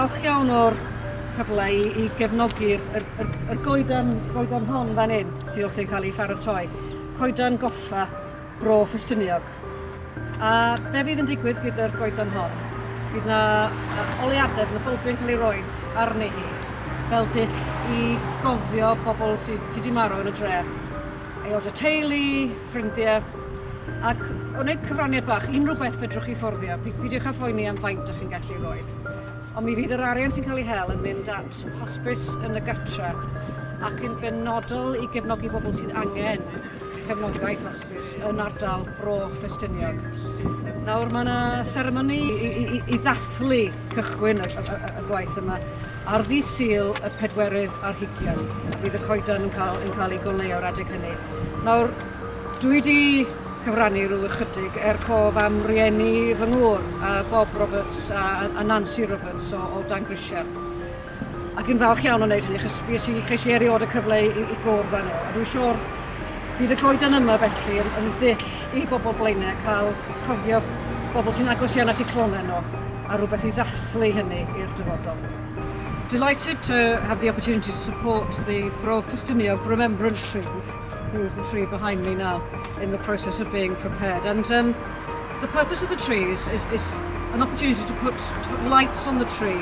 falch iawn o'r cyfle i, i gefnogi'r er, er, er goedan, goedan hon fan hyn, tu wrth ei cael ei pharatoi. Coedan goffa Bro Ffestiniog. A be fydd yn digwydd gyda'r goeden hon? Bydd na oleadau, bydd na bylbiau'n cael ei roed arni hi fel dull i gofio pobl sydd sy wedi marw yn y dre. Aelod o teulu, ffrindiau, ac o wneud cyfraniad bach, unrhyw beth fedrwch chi fforddio, peidiwch â phoeni am faint ydych chi'n gallu ei roed. Ond mi fydd yr arian sy'n cael ei hel yn mynd at hospis yn y gartre ac yn benodol i gefnogi bobl sydd angen cefnogaeth hosbis yn ardal Bro Ffestiniog. Nawr mae yna seremoni i, i, i, i ddathlu cychwyn y, y, y, y gwaith yma ar ddi syl y pedwerydd ar hugian. Bydd y coedan yn cael, yn cael ei goleu o'r adeg hynny. Nawr, dwi wedi cyfrannu rhyw ychydig er cof am rieni fy ngŵr, a Bob Roberts a, a Nancy Roberts o, o Dan Grisiau. Ac yn falch iawn o wneud hynny, achos fi eisiau, cheisiau erioed y cyfle i, i gwrdd â nhw. A dwi'n siŵr bydd y goeden yma felly yn, yn ddull i bobl blaenau cael cofio bobl sy'n agos iawn at eu clonau nhw a rhywbeth i ddathlu hynny i'r dyfodol. Delighted to have the opportunity to support the Bro Ffestiniog Remembrance Tree, who's the tree behind me now, in the process of being prepared. And um, the purpose of the tree is, is, is an opportunity to put, to put lights on the tree